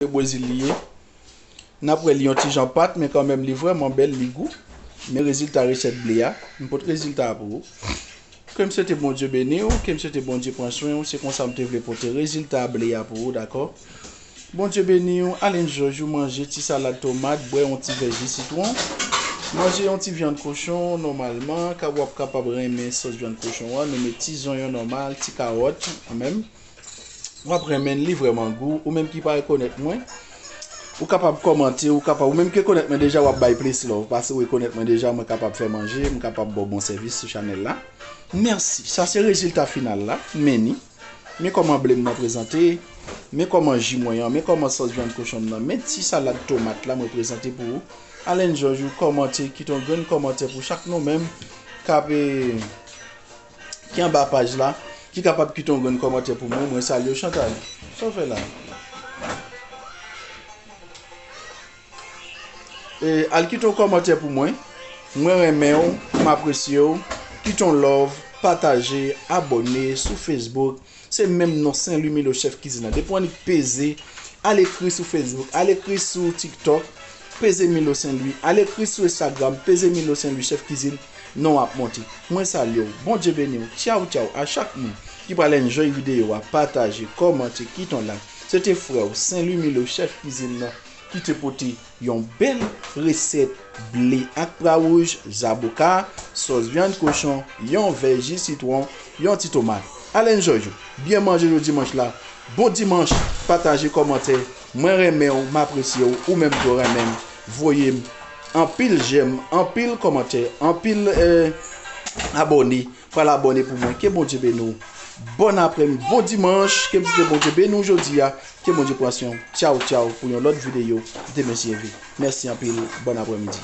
Se Brésil li ye. Nap wè li yon ti jan pat men kanmenm li vrèman bèl li gou. Men rezilta resèt ble a. M pot rezilta a pou ou. Ke m swete Bondye beni w, ke m swete Bondye pran swen w, se konsa m te vle pote rezilta ble a pou ou dakò. Bondye beni w, al enjoy ou manje ti salad tomat, bwè yon ti vè ji sitwon, manje yon ti vyann kochon nòmalman, ka wap kapab renmen sòs vyann kochon an, nou met ti zonyon nòmal, ti kawòt kanmenm. Wap renmenl li vrèman gou ou menm ki pa rekonèt mwen ou kapab kòmante ou kapab ou menm ki rekonèt mwen deja wap bay plis love pase ou rekonèt mwen deja mwen kapab fè manje mwen kapab baw bon sèvis sou chanèl la mèsi sa se rezilta final la men ni men kòman blem nan prezante men kòman ji mwen an men kòman sòs vyann kochonm nan men ti salad tomat la mwen prezante pou ou alèn jòj ou kòmante kite yon grenn kòmantè pou chak nou menm kap e. ki anba paj la ki kapab kite yon grenn kòmantè pou mwen mwen salye w Chantal sa w fè la E al kite yon kòmantè pou mwen. Mwen renmen ou, m apresye ou. Kite yon love, pataje, abone sou Facebook. Se menm non Sen Lwi Milo chèf kizin nan. Depi w annik peze, al ekri sou Facebook, al ekri sou TikTok, peze Milo Sen Lwi, al ekri sou Instagram, peze Milo Sen Lwi chèf kizin, non w ap monte. Mwen salye w, Bondye beni w, tchaw tchaw a chak moun ki pral enjoy videyo a, pataje, kòmante, kite yon like. Se te frè w, Sen Lwi Milo chèf kizin nan ki te pote. Yon bèl resèt ble ak pra wouj, zaboka, sòs vyann kochon, yon vè ji sitwon, yon ti tomat. Ale enjoy yo. Byen manje jou dimanch la. Bon dimanch, pataje kòmante, mwen renmenw m apresyew ou menm tou renmenm voyem anpil jèm anpil kòmantè anpil abòne Pral abòne pou mwen ke bondye beni w bòn aprem bon dimanche ke bndye bondye beni w jodia ke bondye pran swen w tyaw tyaw pou yon lòt video demen si Dieu veut mèsi anpil bòn apremidi.